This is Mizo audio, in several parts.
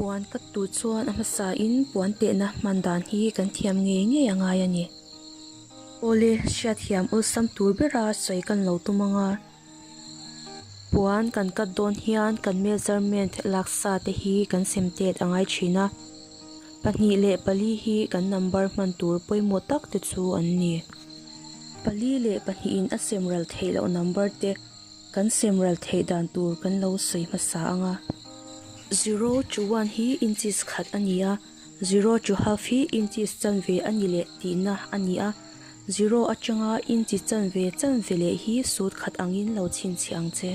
Puan cut tur chuan a hmasa in puan tehna hman dan hi kan thiam ngei ngei a ngai a ni. Awle hriat hiam awlsam tur bera sawi kan lo tum ang a. Puan kan cut dawn hian kan measurement laksa te hi kan sem tet a ngai thin a. Pahnih leh pali hi kan number hman tur pawimawh tak te chu an ni. Pali leh pahnih in a sem ral theih loh number te. Kan semral theih dan tur kan lo sawi hmasa ang a. Zero to one hi inches khat a ni a, zero to half hi inches chanve a ni leh tihna a ni a. Zero atanga inchi chanve chanve leh hi sut khat angin lo chhinchhiah ang che.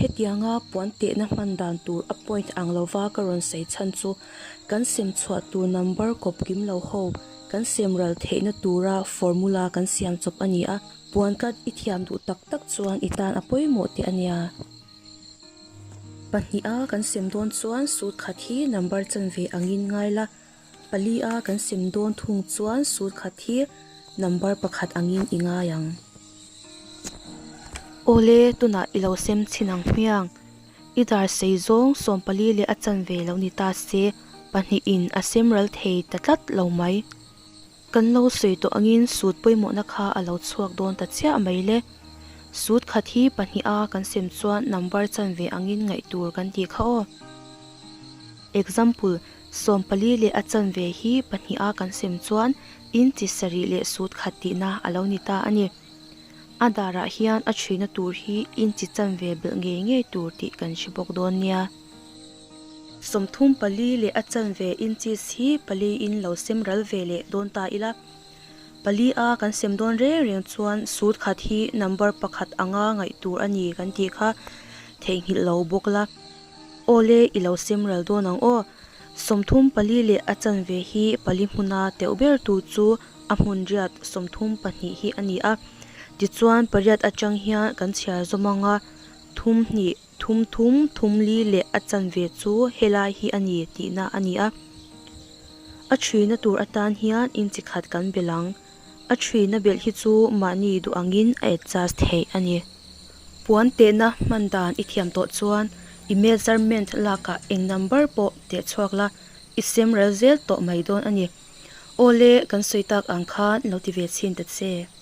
Hetianga puan tehna hman dan tur a point ang lova ka rawn sawi chhan chu, kan sem chhuah tur number kawp kim lo ho, kan sem ral theihna tura formula kan siam chawp a ni a, puan ka i thiam duh tak tak chuan i tan a pawimawh teh a nia. Pahnih a kan sem dawn chuan sut khat hi number chanve angin ngai la, Pali a kan sem dawn thung chuan sur khat hi number pakhat angin i ngai ang. Awle tunah i lo sem chhin ang hmiang. I dar sei zawng Sawmpali leh a chanve lo ni ta se, pahnihin a sem ral thei ta tlat lo mai. Kan lo sawi tawh angin sut pawimawhna kha a lo chhuak dawn ta chiah mai le. Sut khat hi pahnih a kan sem chuan number chan ve angin ngaih tur kan ti kha aw. Example, Sawm pali leh a chan ve hi pahnih a kan sem chuan inchi sarih leh sut khat tihna a lo ni ta a ni. A darah hian a chhina tur hi inchi chan ve belh ngei ngei tur tih kan hre bawk dawn nia. Sawmthum pali leh a chanve inches hi paliin lo sem ral ve leh dawn ta ila. Pali a kan sem dawn reng reng chuan sut khat hi number pakhat anga ngaih tur a ni kan tih kha theihnghilh lo bawk ila. Aw le i lo sem ral dawn ang aw. Sawmthum pali leh a chanve hi pali hmuna teuh ber tu chu a hmun riat sawmthum pahnih hi a ni a. Tichuan pariat atang hian kan chhiar zawm anga thum hnih Thum thum thum li leh a chanve chu helai hi a ni tihna a ni a. A ṭhina tur atan hian inchikhat kan belh ang. A ṭhina belh hi chu mahni duh angin a adjust theih a ni. Puan tehna hman dan i thiam tawh chuan i measurement lakah eng number pawh teh chhuak la, i semrel zel tawh mai dawn a ni. Awle kan sawi tak ang khan lo ti ve chhin ta che.